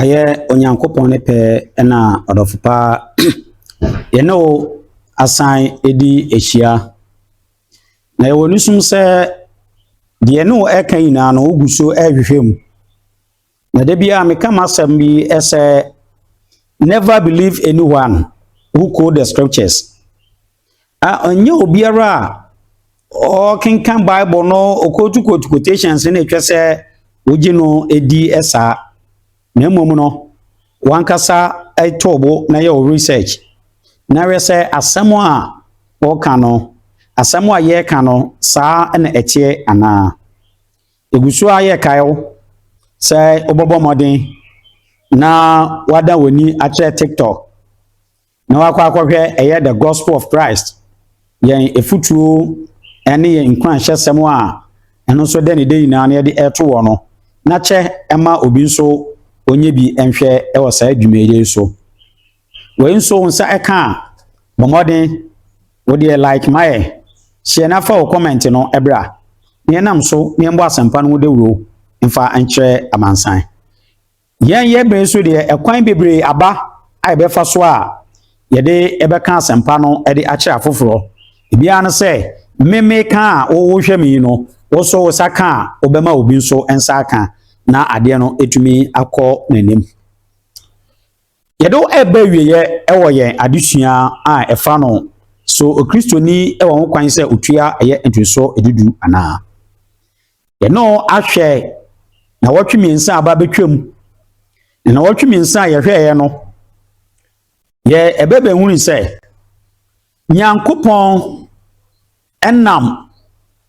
Ayɛ Onyankopɔn ne pɛ na ɔdɔfo pa yɛne wo asan adi ahyia. Na yɛwɔ no sum sɛ deɛ ne wo ɛka nyinaa no wogu so ɛrehwehwɛ mu. Na da biara meka m'asɛm bi sɛ never believe anyone who quote the scriptures. a ɛnyɛ obiara a ɔkenkan Bible no, ɔquote quotations no na ɛtwa sɛ wogye no di saa. Na mmom no, wankasa to bo na yɛ wo research na hwɛ sɛ asɛm a ɔka no, asɛm a yɛreka no, saa na ɛteɛ anaa. Ɛgu so a yɛrekae wo sɛ wobɛbɔ mmɔden na wada w'ani akyerɛ TikTok. na wakɔ akɔhwɛ ɛyɛ The Gospel of Christ, yɛn afutuo ne yɛn nkuranhyɛsɛm a ɛno nso dɛ ne dɛ nyinaa no yɛde ɛreto wɔ no, na kyɛ ɛma obi nso ɔnyɛ bi nhwɛ wɔ saa dwumayɛ yi so. Wei nso wo nsa ɛka a, bɔ mmɔden, wo deɛ like mayɛ, hyɛ na fa wo comment no ɛbra, na yɛnam so na yɛmmɔ asɛmpa no ho dawuro mfa nkyerɛ amansan. Yɛn yɛ bere nso deɛ ɛkwan bebree aba a yɛbɛfa so a yɛde ɛbɛka asɛmpa no ɛde akyerɛ afoforɔ. Ebiara no sɛ mmemme ka a wohwɛ me yi no, wosɔ wo sa ka a wobɛma obi nso nsa aka na adeɛ no etumi akɔ n'anim. Yɛde ɛba awieɛ ɛwɔ yɛn adesua a ɛfa no so okristoni ɛwɔ ho kwan sɛ otua ɛyɛ ntoso edudu anaa. Yɛne wo ahwɛ nnawɔtwe mmiɛnsa a aba abɛtwam. Na nnawɔtwe mmiɛnsa a yɛhwɛeɛ no, yɛ ɛbɛ bɛhunu sɛ Nyankopɔn nam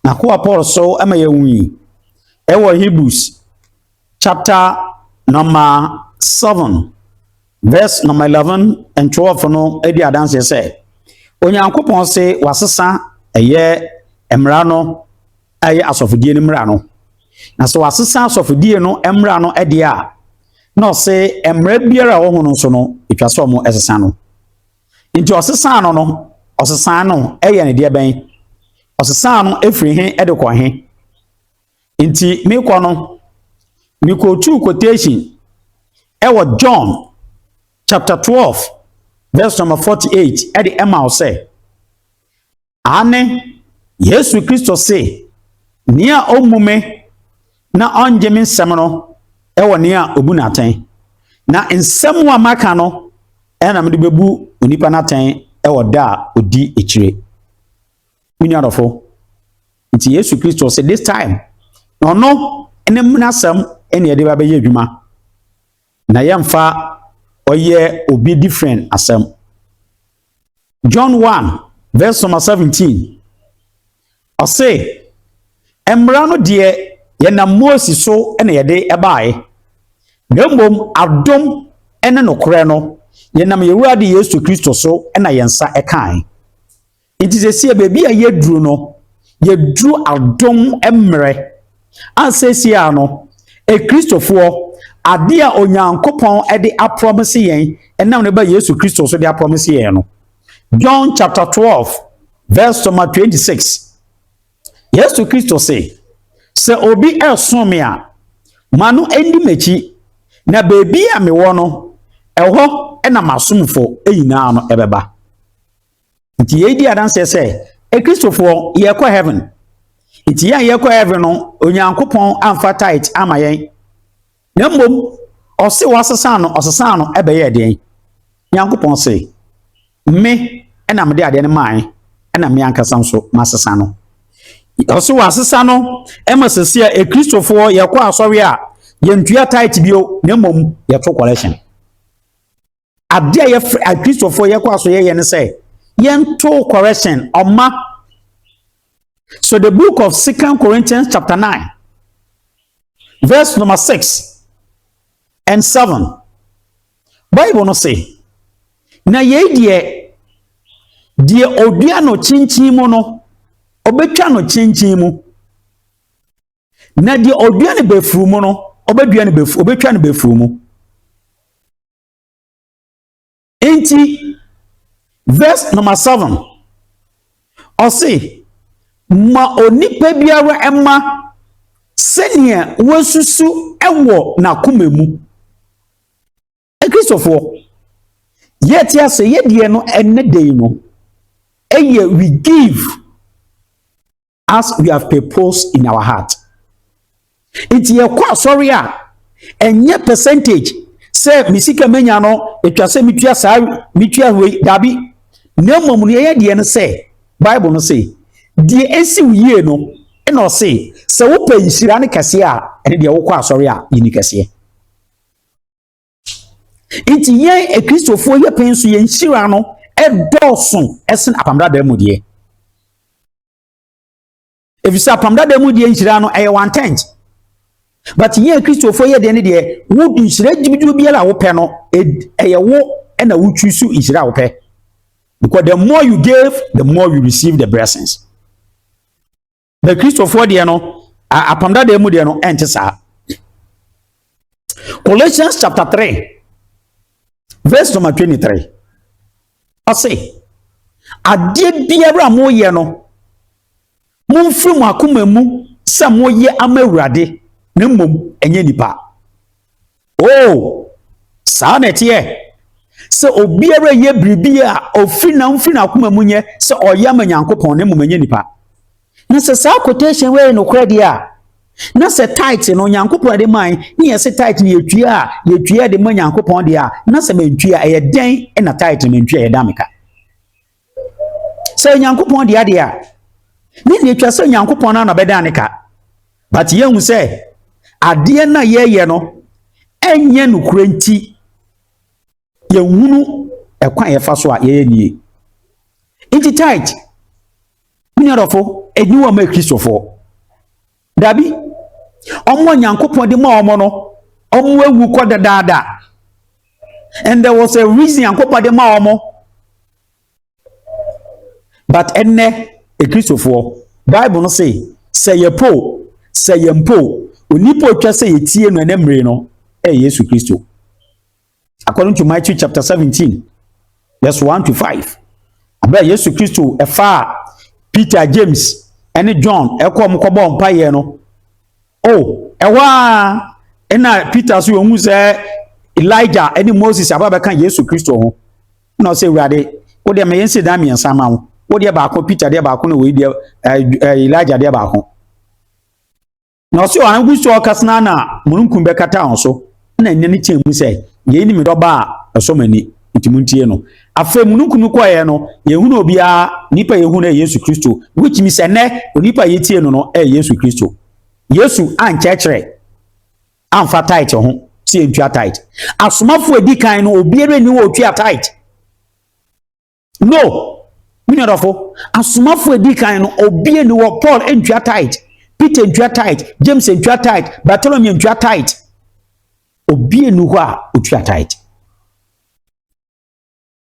n'akoa Paul so ma yɛhui ɛwɔ Hebrews chapter number seven. Vɛs nɔma eleven and twelve no di adanseɛ sɛ, Onyankopɔn se wasesa ɛyɛ mmara no a ɛyɛ asɔfodie no mmara no. Na sɛ wasesa asɔfodie no mmara no deɛ a, na ɔse mmara biara a ɛwɔ ho no nso no, ɛtwa sɛ ɔmo ɛsesa no. Nti ɔsesa no no, ɔsesa no ɛyɛ ne deɛ bɛn? Ɔsesa no ɛfiri he ɛde kɔ he? Nti mekɔ no, mekɔtuu quotation wɔ John chapter 12 verse number 48 de ma wo sɛ, Aane, Yesu Kristo se, Nea ɔmmu me na ɔngye me nsɛm no wɔ nea ɔbu no atɛn. Na nsɛm a maka no na mede bɛbu onipa no atɛn wɔ da a ɔdi akyire. Me nuadɔfo, Nti Yesu Kristo se this time na ɔno ne mmrasɛm ɛne ɛde ba bɛyɛ adwuma. Na yɛmfa ɔyɛ obi different asɛm. John 1 verse number 17 ɔse mmara no deɛ yɛnam Mose so na yɛde ɛbaeɛ na mmom adom ne nokorɛ no yɛnam Yɛwurade Yesu Kristo so na yɛn nsa ɛkae. Nti sesie baabi a yɛduru no, yɛduru adom mmerɛ a sesie a no, Akristofoɔ, adeɛ a Onyankopɔn de aprɔmese yɛn ɛnam ne ba Yesu Kristo so de aprɔmese yɛn no. John chapter 12 verse number 26. Yesu Kristo se, sɛ obi ɛresom me a, ma no ɛndi m'akyi, na baabi a mewɔ no, ɛhɔ na m'asomfo nyinaa no ɛbɛba. Nti yei di adanseɛ sɛ Akristofoɔ yɛkɔ heaven. Nti yɛn a yɛkɔ heaven no, Onyankopɔn amfa tait ama yɛn. Na mmom, ɔse wɔasesa no, ɔsesa no ɛbɛyɛ deɛn? Nyankopɔn se, me na mede adeɛ no mae, ɛna me ankasa nso masesa no. Ɔse wɔasesa no ɛma sɛsi a Akristofoɔ yɛkɔ asɔre a yɛntua tait bio, na mmom yɛto collection. Adeɛ a yɛfrɛ akristofoɔ yɛkɔ aso yɛyɛ ne sɛ yɛnto correction ɔma so the book of second corinthians chapter 9 verse number 6 and 7 bible no se na yei deɛ deɛ odua no kyinkyin mu no ɔbɛtwa no kyinkyin mu na deɛ odua no bɛfuru mu no ɔbɛdua no bɛfuru ɔbɛtwa no bɛfuru mu Enti, verse number seven, ɔse, ma onipa biara ɛma sɛdeɛ wasusu ɛwɔ n'akoma mu. Akristofoɔ, yɛte ase yɛdeɛ no ɛnɛ dɛn no, ɛyɛ we give as we have proposed in our heart nti yɛkɔ asɔre a ɛnyɛ percentage sɛ me sika manya no ɛtwa sɛ metua saa metua wei daabi na mmom no yɛyɛ deɛ no sɛ bible no se deɛ ɛsi wo yie no ɛna ɔse sɛ wopɛ nhyira no kɛseɛ a ɛne deɛ wokɔ asɔre a yɛni kɛseɛ nti yɛn akristofoɔ yɛ pɛn so yɛn nhyira no ɛdɔɔso ɛsen apamdadaa mu deɛ efisɛ apamdadaa mu deɛ nhyira no ɛyɛ one tent but yɛn akristofoɔ yɛ deɛ ne deɛ wo nhyira gyimigyimi biara a wopɛ no ɛyɛ wo ɛna wotwi so nhyira a wopɛ because the more you give the more you receive the blessings. na kristofoɔ deɛ no apam dada mu deɛ no ɛnte saa colossians chapter 3 verse number 23 ɔse adeɛ biara a moyɛ no momfiri mo akoma mu sɛ moyɛ ama awurade na mmom ɛnyɛ nipa Oo, saa na ɛteɛ. Sɛ obiara reyɛ biribi a ɔfiri na ɔmfiri n'akoma mu nyɛ sɛ ɔyɛ ama Nyankopɔn na mmom ɛnyɛ nipa. Na sɛ saa quotation wei yɛ nokorɛ deɛ a, na sɛ tithe no Nyankopɔn ɛde man ne yɛ se tithe no yɛtua a yɛtua de ma Nyankopɔn deɛ a, na sɛ mentwi a ɛyɛ dɛn na tithe no mentwi a yɛda meka. Sɛ Onyankopɔn de adeɛ a, ne deɛ ɛtwa sɛ Onyankopɔn no na ɔbɛdan ne ka. But yɛhu sɛ adeɛ no a yɛyɛ no ɛnyɛ nokorɛ nti, yɛhunu ɛkwan a yɛfa so a yɛyɛ nie. Nti tight, menuadɔfo, ɛni wɔ ma Kristofoɔ. Dabi, wɔn a Nyankopɔn de maa wɔn no, wɔn awu kɔ dadaada. And there was a reason Nyankopɔn de maa wɔn. But ɛnnɛ, Ekristofoɔ, Bible no se, sɛ yɛpo, sɛ yɛmpo, onipa otwa sɛ yɛtie no ɛnɛ mmere no, ɛyɛ Yesu Kristo. according to Matthew chapter 17, verse 1 to 5. Abɛ Yesu Kristo ɛfaa Peter, James, ɛne John ɛkɔ wɔn kɔbɔ mpaeɛ no. O ɛhɔ a ɛna Peter so wɔn sɛ Elijah ɛne Moses aba bɛka Yesu Kristo ho. Na ɔsɛ Awurade, wo deɛ mɛyɛ nsi dan mmiɛnsa ma wo. Wo deɛ baako Peter deɛ baako na wei deɛ ɛɛ Elijah deɛ baako. na ɔse ɔan gu so ɔkasa no na mununkum bɛkata wɔn so na nne no teɛ mu sɛ yei ne me dɔba a ɛsɔ m'ani nti muntie no afei mununkum no kɔeɛ no yɛhunu obiara nipa yɛhunu ɛ yesu kristo which means ɛnɛ onipa yɛtie no no ɛ yesu kristo yesu ankyerɛkyerɛ amfa tight ho sɛ yɛntua tight asomafoɔ adi kan no obiara ni wɔ ɔtua tight no me nuadɔfo asomafo edi kan no obie ni wɔ paul ntua tight peter ntua tight james ntua tight bartolomeo ntua tight obie ni hɔ a otua tight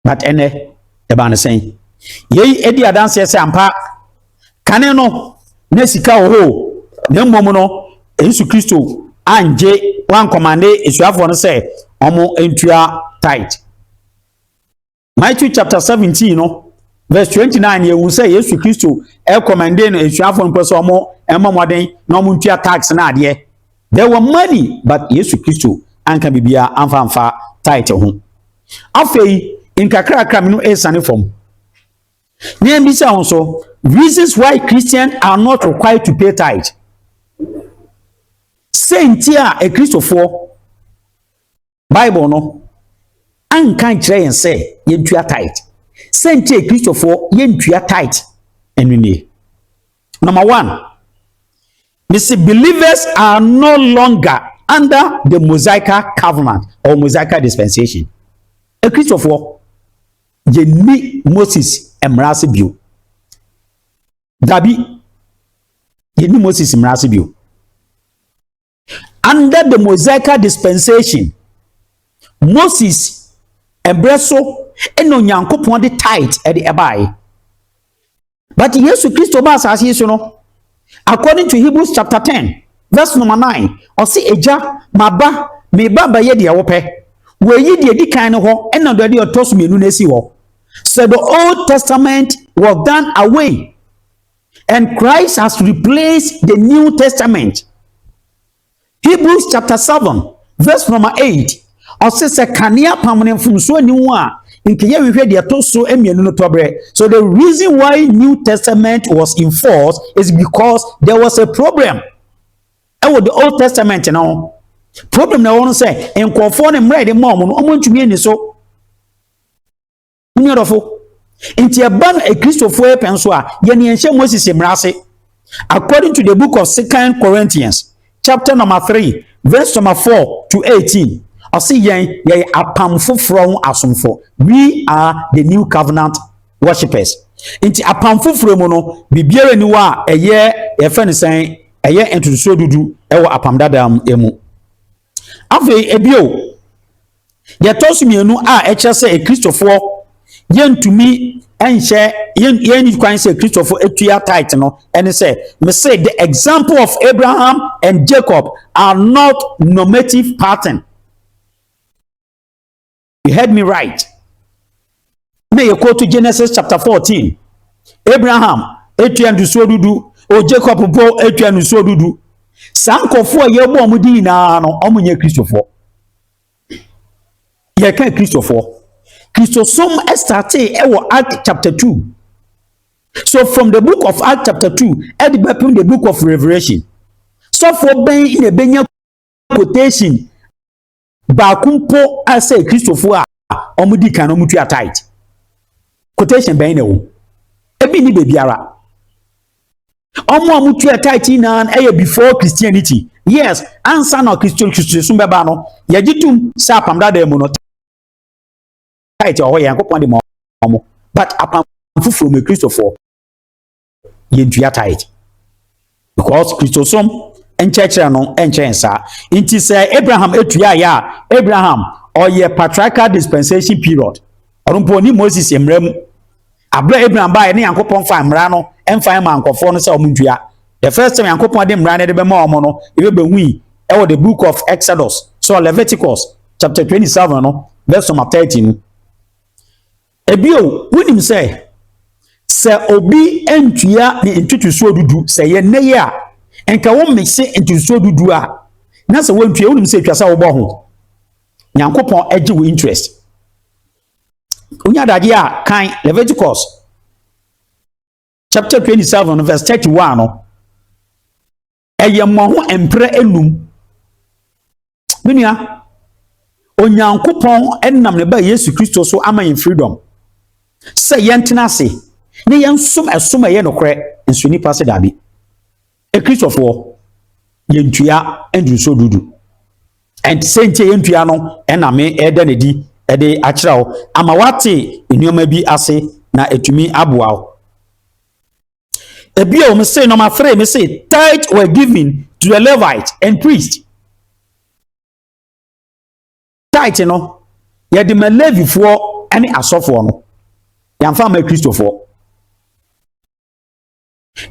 but ɛnɛ ɛbaa no sɛn yei edi adanseɛ sɛ ampa kane no na sika wɔ hɔ na mmom no yesu kristo angye wankɔmande asuafoɔ no sɛ wɔn ntua tight Matthew chapter seventeen no verse twenty nine yɛ ehu sɛ Yesu Kristo ɛkɔmɛnde no esuafo mpɛ sɛ wɔn ɛmɔ mɔden na wɔn ntua tax na adeɛ there were money but Yesu Kristo anka biribiara anfa anfa tithe ho afei nkakrakra mi no ɛresane fam na yɛn bisa ho so reasons why Christians are not required to pay tithe sɛ nti a ekristofoɔ. Bible no anka nkyerɛ yɛn sɛ yɛntua tithe. Sɛ nti a Kristofoɔ yɛntua tithe ɛno nie. Number one, mesi believers are no longer under the Mosaica covenant or Mosaica dispensation. Kristofoɔ yɛnni Moses mmara ase bio. Dabi, yɛnni Moses mmara ase bio. Under the Mosaical dispensation, Moses ɛbrɛ so ɛna Onyankopɔn de tithe ɛde ɛbaeɛ. But Yesu Kristo ba asase yi so no, according to Hebrews chapter ten verse number nine, ɔsi egya ma ba me ba bɛyɛ deɛ wɔpɛ wɔyi deɛ di kan no hɔ ɛna deɛ ɔtɔ so mmienu no asi hɔ so the old testament was done away And Christ has replaced the New Testament. Hebrews chapter 7, verse number 8. ɔse sɛ kanea pam no mfomsoɔ ni ho a nka yɛhwehwɛ deɛ ɛto so mmienu no tɔberɛ so the reason why new testament was enforced is because there was a problem ɛwɔ the old testament no problem na ɛwɔ no sɛ nkurɔfoɔ no mmerɛ yɛde maa wɔn no wɔntumi ani so Mo nua dɔfo, nti ɛba no Akristofoɔ yɛ pɛn so a, yɛn yɛn hyɛ Moses mmara ase. According to the book of Second Corinthians, chapter number three, verse number four to eighteen, ɔsi yɛn yɛyɛ apam foforɔ ho asomfo. We are the new covenant worshippers. Nti apam foforɔ mu no, biribiara ni hɔ a ɛyɛ yɛfɛ ne sɛn ɛyɛ ntotosoɔ dudu ɛwɔ apam dada mu. Afei ebio, deɛ ɛtɔ so mmienu a ɛkyerɛ sɛ akristofoɔ yɛntumi nhyɛ yɛn yɛn kwan sɛ akristofoɔ atua tight no ɛne sɛ mese the example of abraham and jacob are not normative pattern you heard me right na yɛ kootu genesis chapter fourteen abraham etua ndusuo dudu o jacob bo etua ndusuo dudu saa nkɔfoɔ a yɛbɔ wɔn di nyinaa no wɔn nyɛ kristofoɔ yɛka kristofoɔ kristosom startee ɛwɔ act chapter two so from the book of act chapter two ɛde bɛpem the book of revelation sɔfoɔ bɛn na ebɛnya quotation. baako mpo sɛ Kristofo a wɔdi kan no wɔtua tithe. Quotation bɛn na ɛwɔ? Ebi nni baabiara. Wɔn a wɔtua tithe nyinaa ɛyɛ before Christianity. Yes, ansa na Kristo Kristosom bɛba no, yɛgye tom sɛ apam dada mu no tithe wɔ hɔ yɛn kopɔn de ma wɔn. But apam foforɔ mu Kristofoɔ yɛntua tithe because kristosom nkyerɛkyerɛ no nkyɛn saa nti sɛ abraham tuaeɛ a abraham ɔyɛ patriarchal dispensation period ɔno mpo ɔne moses mmara mu aberɛ abraham baeɛ ne nyankopɔn fa mmara no mfa ma nkɔfoɔ no sɛ ɔmo ntua the first time nyankopɔn de mmara no de bɛma ɔmo no yɛbɛbɛhui ɛwɔ the book of exodus so leviticus chapter 27 no verse number 30 no Bio, wonim sɛ, sɛ obi antua ne ntotosoɔ dudu sɛ yɛ nnɛ yi a, nka wommese ntotosoɔ dudu a na sɛ woantua wonim sɛ ɛtwa sɛ wobɔ ho. Nyankopɔn agye wo interest. Wonya adagye a kan Leviticus chapter 27 verse 31 no. ɛyɛ mmɔho mprɛ enum me nua onyankopɔn nam ne ba yesu kristo so ama yɛn freedom sɛ yɛntena ase ne yɛnsom ɛsom ɛyɛ nokorɛ nso nnipa se daabi ekristofoɔ yɛntua ndurusuo dudu ɛnti sɛ nti yɛntua no ɛna me ɛda ne di ɛde akyerɛ wo ama wate nneɛma bi ase na ɛtumi aboa wo Ebio me say number three me say tithe were given to the Levite and priest. Tithe no yɛde ma Levifoɔ ɛne asɔfoɔ no yɛnfa ma Kristofoɔ.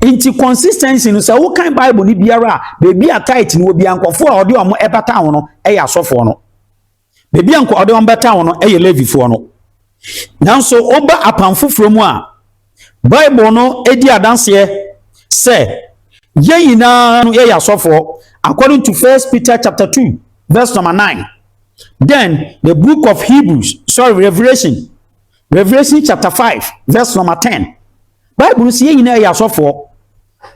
Nti consistency no sɛ wokan Bible no biara a beebi a tithe no wɔ bi a nkɔfoɔ a ɔde wɔn ɛbata ho no ɛyɛ asɔfoɔ no. Baabi a nka ɔde wɔn bɛtan wɔn no yɛ Levifoɔ no. Nanso woba apam foforɔ mu a, Bible no di adanseɛ sɛ yɛn nyinaa no yɛyɛ asɔfoɔ according to First Peter chapter two verse number nine. Then the book of Hebrews, sorry, Revelation, Revelation chapter five verse number ten. Bible no sɛ yɛn nyinaa yɛ asɔfoɔ.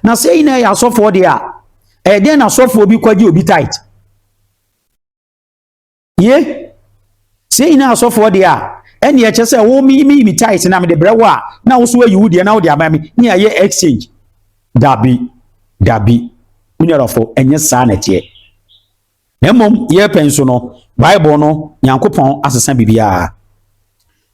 Na sɛ yɛn nyinaa yɛ asɔfoɔ deɛ a, ɛyɛ dɛn na asɔfoɔ bi kɔgye obi tight? ye sɛ yɛn nyinaa asɔfoɔ deɛ a ɛnneɛ kyɛ sɛ wo meyi me tithe na mede brɛ wo a na wo so ayi wo deɛ na wode ama me ne ayɛ exchange dabi dabi menuadɔfo ɛnyɛ saa na ɛteɛ na mmom yɛpɛ nso no bible no nyankopɔn asesa biribiara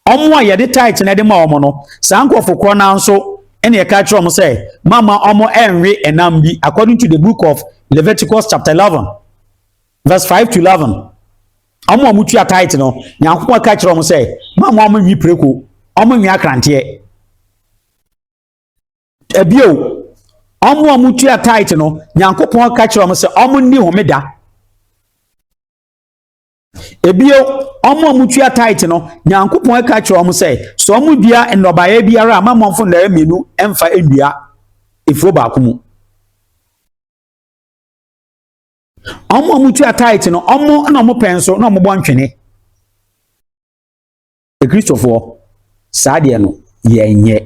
ɔmo a yɛde tithe na ɛde ma ɔmo no saa nkurɔfo korɔ no nso ɛna ɛka kyerɛ ɔmo sɛ mama ɔmo ɛnwe ɛnam bi according to the book of leviticus chapter eleven Verse five to eleven. Wɔn a wɔtua tithe no, Nyankopɔn ka kyerɛ wɔn sɛ, "Mo a mo a monwi preko, wɔn nwi akranteɛ." Ebio, wɔn a wɔtua tithe no, Nyankopɔn ka kyerɛ wɔn sɛ, "Wɔn nni homeda." Ebio, wɔn a wɔtua tithe no, Nyankopɔn ka kyerɛ wɔn sɛ, "Sɛ wɔn dua nnɔbaeɛ biara a, ma wɔn mfo nnɔbaeɛ mmienu mfa nnua efuo baako mu." Wɔn a wɔtua tithe no, wɔn na wɔpɛ nso na wɔbɔ ntwene. Akristofoɔ, saa deɛ no yɛnyɛ.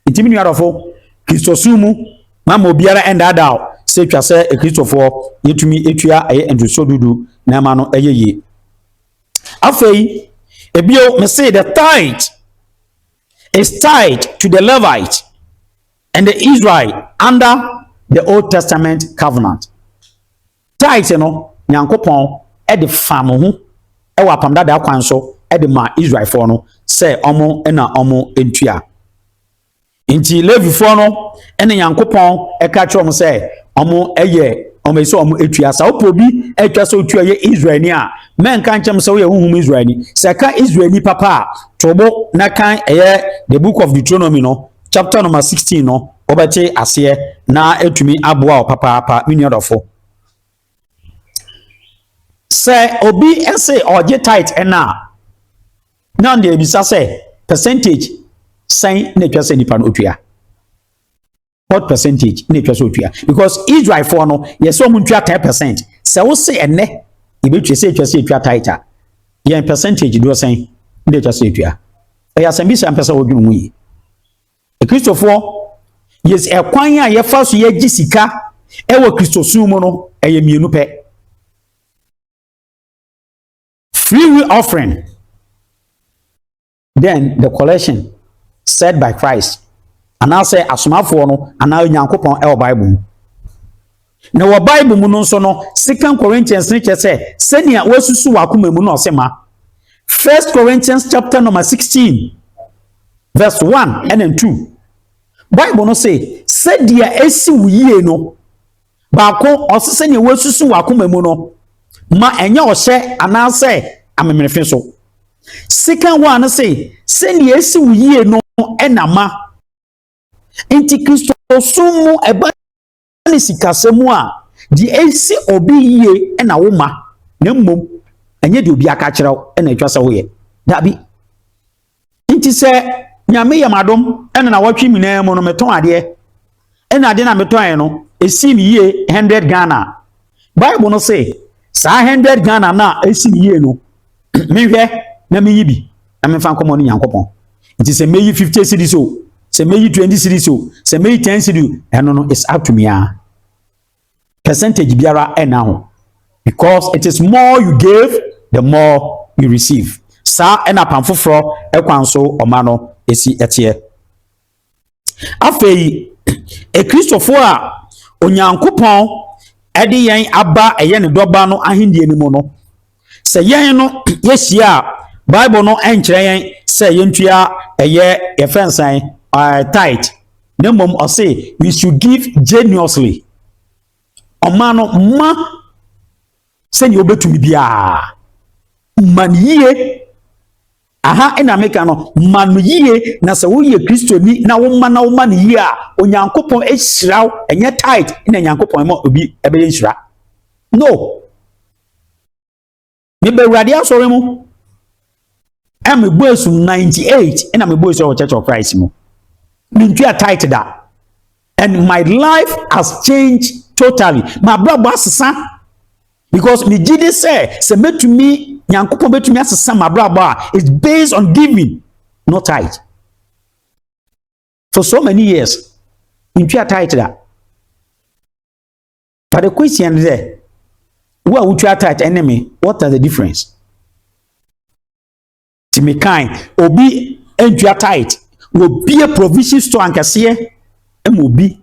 Nti me nuadɔfo, Kristosom mu ma ma obiara ɛndaadaa o sɛ twa sɛ Akristofoɔ yɛtumi atua ɛyɛ ntotosoɔ dudu na ɛma no ɛyɛ yie. Afei, ebio me se the tithe is tied to the Levite. And the Israel under the Old Testament covenant. Tithe no, Nyankopɔn de fa mo ho wɔ apam dada kwan so de ma Israelfoɔ no sɛ ɔmo na ɔmo ntua. Nti Levifoɔ no ne Nyankopɔn ɛka kyerɛ ɔmo sɛ ɔmo yɛ ɔmo sɛ ɔmo atua saa wopɛ obi atwa sɛ otua yɛ israelni a mɛnka nkyɛm sɛ woyɛ honhom israelni sɛ ka israelni papa a tobo na kan ɛyɛ the book of deuteronomy no chapter number sixteen no wɔbɛte aseɛ na ɛtumi aboa wɔ papaapa me nua dɔfo sɛ obi se ɔgye tight ɛna a na ɔde abisa sɛ percentage sɛn na ɛtwa sɛ nipa no ɔtua what percentage na ɛtwa sɛ ɔtua because israelfoɔ no yɛ sɛ ɔmo ntua ten percent sɛ wo se ɛnɛ yɛbɛtwa sɛ ɛtwa sɛ ɛtua tight a yɛn percentage doɔ sɛn na ɛtwa sɛ ɛtua Ɛyɛ asɛmbisa a mpɛ sɛ wodwen ho yie. Akristofoɔ, yes, ɛkwan a yɛfa so yɛgye sika ɛwɔ Kristosom mu no, ɛyɛ mmienu pɛ. Free will offering, then the collection said by Christ, anaasɛ asomafoɔ no anaa Onyankopɔn ɛwɔ Bible mu. Na wɔ Bible mu no nso no, Second Corinthians no kyerɛ sɛ sɛnea woasusu w'akoma mu na ɔse ma. First Corinthians chapter number 16 verse 1 ɛna 2. Bible no se sɛdeɛ ɛsi wo yie no baako ɔse sɛnea woasusu w'akoma mu no ma ɛnyɛ ɔhyɛ anaasɛ amemenefe so. Second one no se sɛnea ɛsi wo yie no ɛna ma. Nti Kristosom mu ɛba ne sikasɛm a deɛ ɛsi obi yie na wo ma na mmom ɛnyɛ deɛ obi aka kyerɛ wo na atwa sɛ woyɛ dabi nti sɛ nyame yɛ m'adom ɛna na wɔtwe nyinaa mu no metɔn adeɛ ɛna adeɛ na metɔn no ɛsii me yie 100 ghana Bible no se saa hundred Ghana no a ɛsi me yie no menhwɛ na meyi bi na memfa nkɔmmɔ no Nyankopɔn. Nti sɛ mɛyi fifty series o, sɛ mɛyi twenty series o, sɛ mɛyi ten series ɛno no it's up to me a. Percentage biara ɛna ho because it is more you give the more you receive. Saa ɛna pam foforɔ ɛkwan so ɔma no ɛsi ɛteɛ. Afei, Akristofoɔ a Onyankopɔn de yɛn aba a ɛyɛ ne dɔba no ahennie no mu no, sɛ yɛn no yɛhyia a, Bible no nkyerɛ yɛn sɛ yɛntua ɛyɛ yɛfrɛ no sɛn uh, tithe na mmom ɔse we should give generously ɔma no ma sɛdeɛ wobɛtumi biara ma no yie Aha na meka no, ma no yie, na sɛ woyɛ Kristoni na woma na woma no yie a, Onyankopɔn ahyira wo, ɛnyɛ tight na Onyankopɔn ɛma obi ɛbɛyɛ nhyira. No. Meba Awurade asɔre mu, ɛna mebɔ asum 98 ɛna mebɔ asum wɔ Church of Christ mu. Mentua tight da. and my life has changed totally m'abrabɔ asesa because megye di sɛ sɛ mɛtumi nyankopɔn bɛtumi asesa m'abrabɔ a it's based on giving not tight for so many years ntwea tight da but the question is there wo a wotwa tight ɛne me what are the difference Ti mi kan obi ntua tithe na obie provision store ankɛseɛ ma obi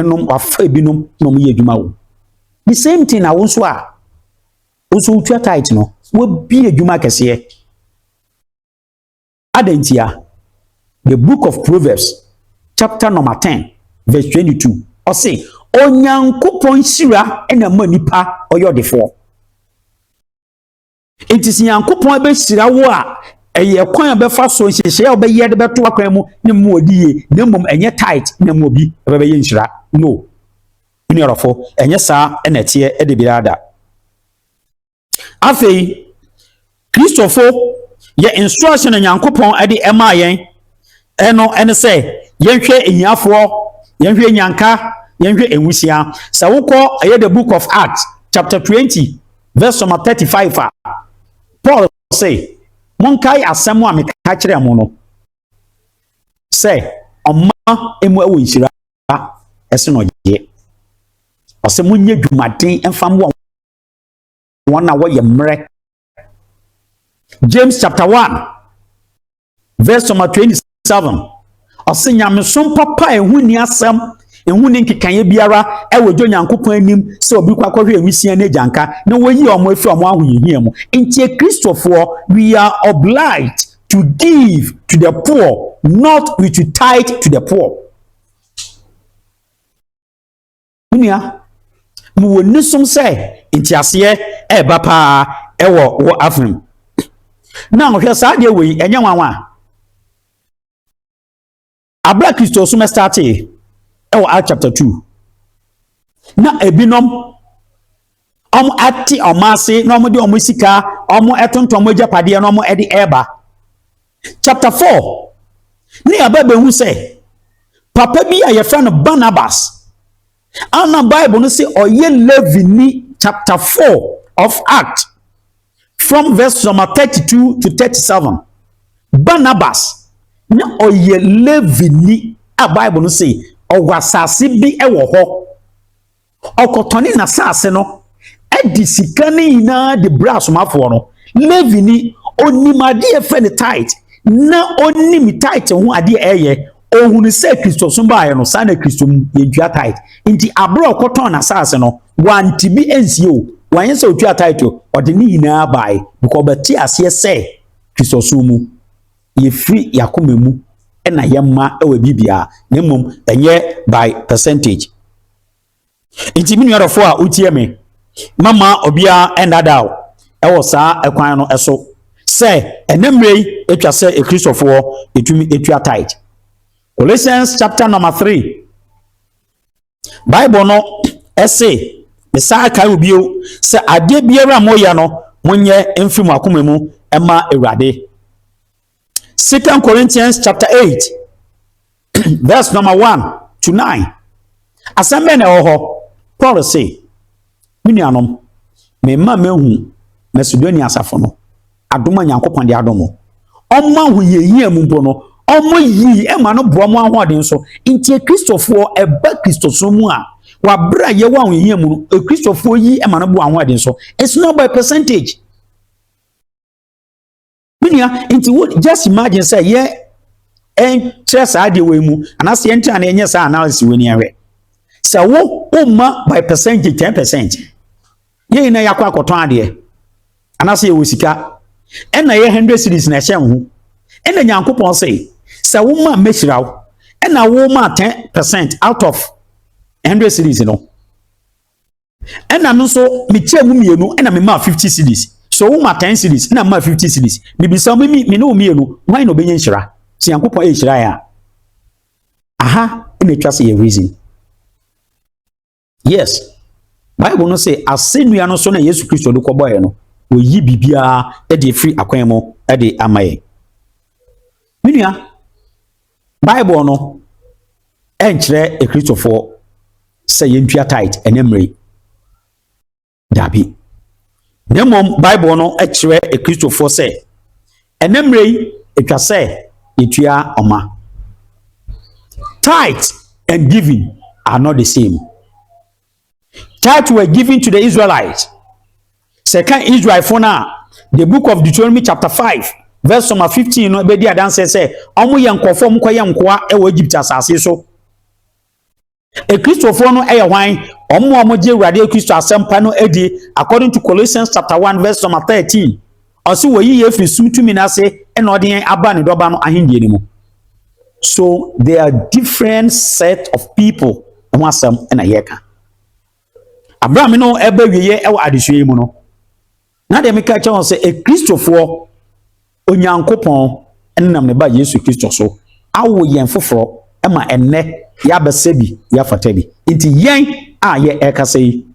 nom wafa ebinom na wɔn yɛ adwuma wɔ the same thing na wɔn nso a wɔn nso wotua tithe no wabie adwuma kɛseɛ adan ntia the book of proverbs chapter number ten verse twenty two ɔse onyankopɔn hyira na ɛma nipa ɔyɛ ɔdefoɔ. Enti sɛ Nyankopɔn bɛhyira wo a, ɛyɛ kwan a ɔbɛfa so, nhyehyɛe a ɔbɛyɛ de bɛto w'akwan mu ne mu a ɔdi yie, na mmom ɛnyɛ tight na mu obi bɛbɛyɛ nhyira. No, me nua dɔfo, ɛnyɛ saa na ɛteɛ da biara da. Afei, Kristofo yɛ instruction a Nyankopɔn de ɛmaa yɛn ɛno ɛne sɛ yɛnhwɛ ahiafoɔ yɛnhwɛ nyanka yɛnhwɛ nwusia sɛ wokɔ ɛyɛ the book of acts chapter 20 Verse number 35 a, Paul se, Monkae asɛm a meka kyerɛɛ mo no, sɛ ɔma emu ɛwɔ nhyira ɛse na ɔyɛ. Ɔsɛ monyɛ dwumaden mfa mmoa wɔn a wɔyɛ mmerɛ. James chapter 1 Verse number 27 ɔse nyamesom papa a ɛho nni asɛm ɛho nni nkekaeɛ biara ɛwɔ dwo nyankopɔn anim sɛ obi kɔ akɔhwɛ awisia ne agyanka na wɔyi wɔn afiri wɔn ahohiahia mu nti kristofoɔ we are obliged to give to the poor not we to tithe to the poor Me nua, mewɔ nisom sɛ nteaseɛ reba paa wɔ wo afem. Now hwɛ saa adeɛ wei ɛnyɛ nwanwa a. Abere a Kristosom startee wɔ Act chapter two na ebinom wɔate wɔn ase na wɔde wɔn sika wɔtontɔn wɔn agyapadeɛ na wɔde reba chapter four ne yɛaba bɛhu sɛ papa bi a yɛfrɛ no barnabas ana bible no sɛ ɔyɛ levini chapter four of act from verse number thirty two to thirty seven barnabas na ɔyɛ levini a bible no sɛ ɔwɔ asase bi wɔ hɔ. ɔkɔtɔne n'asase no de sika no nyinaa de brɛ asomafoɔ no levini ɔnim adeɛ fɛ ne tit na ɔnim tit ho adeɛ ɛyɛ ɔhunu sɛ kristosom baeɛ no saa na kristo mu yɛntua tit nti aberɛ ɔkɔtɔn n'asase no wante bi ansie o wanyɛ sɛ ɔtua tit o ɔde ne nyinaa bae bikɔ ɔbɛte aseɛ sɛ kristosom mu yɛfiri yɛn akoma mu na yɛma wɔ biribiara na mmom ɛnyɛ by percentage nti me nuadɔfo a wotie me mama obiara ɛndada o ɛwɔ saa ɛkwan no ɛso sɛ ɛnɛ mmerɛ yi atwa sɛ ekristofoɔ ɛtumi ɛtua tithe Colossians chapter number three Bible no se, mesan kae wo bio sɛ adeɛ biara a moyɛ no, monyɛ mfiri mo akoma mu ma Awurade. Second Corinthians chapter 8 verse number 1 to 9. Asɛm bɛn na ɛwɔ hɔ? Paul se, Me nuanom, merema moahu Macedonia asafo no adom a Nyankopɔn de adom mo. Ɔmo ahohiahia mu mpo no, ɔmo yii ɛma no boa mo ahoɔden so. Nti Kristofoɔ ɛba Kristosom mu a, wɔabrɛ a yɛwɔ ahohiahia mu no, Kristofoɔ yi ɛma no boa ahoɔden so. It's not by percentage. me nua nti wo just imagine sɛ yɛ ɛnkyerɛ saa deɛ wei mu anaasɛ yɛntena na yɛnyɛ saa analysis wei ni ahwɛ sɛ wo woma by percentage ten percent yɛn nyinaa yɛakɔ akɔtɔn adeɛ anaasɛ yɛwɔ sika ɛna yɛ hundred series na ɛhyɛ ho ɛna nyankopɔn sɛ sɛ woma mɛhyira wo ɛna woma ten percent out of hundred series no Ɛna no nso mekyɛɛ mu mmienu ɛna memaa fifty cities so woma ten cities ɛna memaa fifty cities mebisa me me ne wo mmienu hwan na ɔbɛnya nhyira sɛ Nyankopɔn ɛnhyira yɛn a aha ɛna atwa sɛ yɛ reason yes bible no sɛ asɛnnua no so na yesu kristo de kɔbɔeɛ no wɔyi biribiara de afiri akwan mu de ama yɛn me nua Bible no nkyerɛ Akristofoɔ sɛ yɛntua tithe ɛnɛ mmere. Daabi. Na mmom Bible no kyerɛ Akristofoɔ sɛ ɛnɛ mmere yi ɛtwa sɛ yɛtua ɔma. Tithe and giving are not the same. Tithe were given to the Israelites. Sɛ ka Israelfo no a, the book of Deuteronomy chapter 5 verse number 15 no bɛdi adanseɛ sɛ wɔyɛ nkurɔfoɔ a wɔkɔyɛ nkoa wɔ Egypt asase so. Akristofoɔ no yɛ hwan? Wɔn a wɔgye Awurade Kristo asɛmpa no adi according to Colossians chapter 1 verse number 13. Ɔse wɔyi yɛn firi sum tumi no ase na ɔde yɛn aba ne dɔba no ahendie no mu. So there are different set of people ho asɛm na yɛka. Aberɛ a me no ɛba wieɛ ɛwɔ adesua yi mu no, na deɛ meka kyɛ wɔn sɛ ekristofoɔ Onyankopɔn nam ne ba Yesu Kristo so awo yɛn foforɔ ma ɛnnɛ yɛabɛsɛ bi yɛafata bi. Nti yɛn a yɛ ɛkasa yi,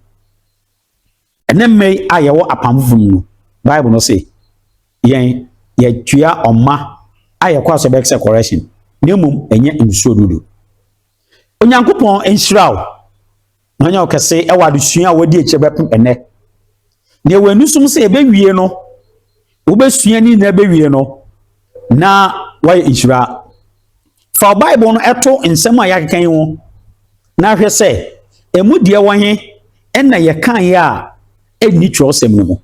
Ɛnnɛ mma yi a yɛwɔ apam foforo mu no, Bible no se yɛn yɛtua ɔma a yɛkɔ asɔ bɛyɛ sɛ correction, na mmom ɛnyɛ nsuo dodo. Onyankopɔn nhyira wo na ɔnyɛ ɔkɛse ɛwɔ adesua a wɔadi akyire bɛpem ɛnnɛ. Nea wɔn ani som sɛ yɛbɛwie no, wobɛsua ne nyinaa bɛwie no na woayɛ nhyira fa bible no ɛto nsɛm a yɛakeka yi ho na ahwɛ sɛ ɛmu deɛ wɔ he ɛna yɛkaeɛ a ɛnni twerɛsɛm no mu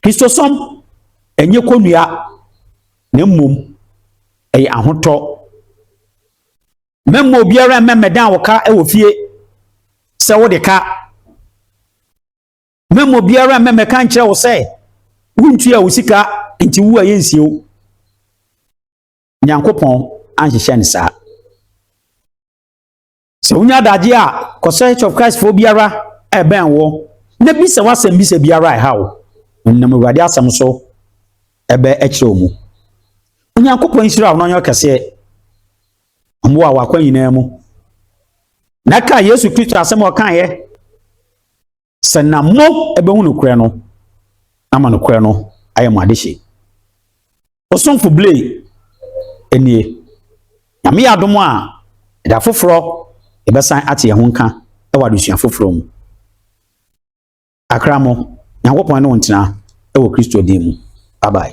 kristosɔm ɛnyɛ kɔnnua na mmom ɛyɛ ahotɔ mɛmma obiara mmɛmmɛdan wo ka wɔ fie sɛ wode ka mɛma obiara mmɛmɛka nkyerɛ wo sɛ wontua wo sika nti wo a yɛnsie wo nyankopɔn anhyehyɛ no saa sɛ wonya adagye a kɔsɛ church of christ foɔ biara ɛbɛn wɔ na bisa wasɛm bisa biara a ɛha wo nam awurade asɛm so ɛbɛ ɛkyerɛ wo mu onyankopɔn nhyira wo na ɔnyɛ ɔkɛseɛ ɔmmoa wakɔ nyinaa mu na ka yesu kristo asɛm ɔkaeɛ Sɛ na mo ɛbɛhu nokorɛ no ama nokorɛ no ayɛ mo adehye. Osomfo Blay nie. Nyame yɛ adom a, ɛda foforɔ yɛbɛsan ate yɛn ho nka wɔ adesua foforɔ mu. Akramo, Nyankopɔn ne wo ntena wɔ Kristo din mu. Bye bye.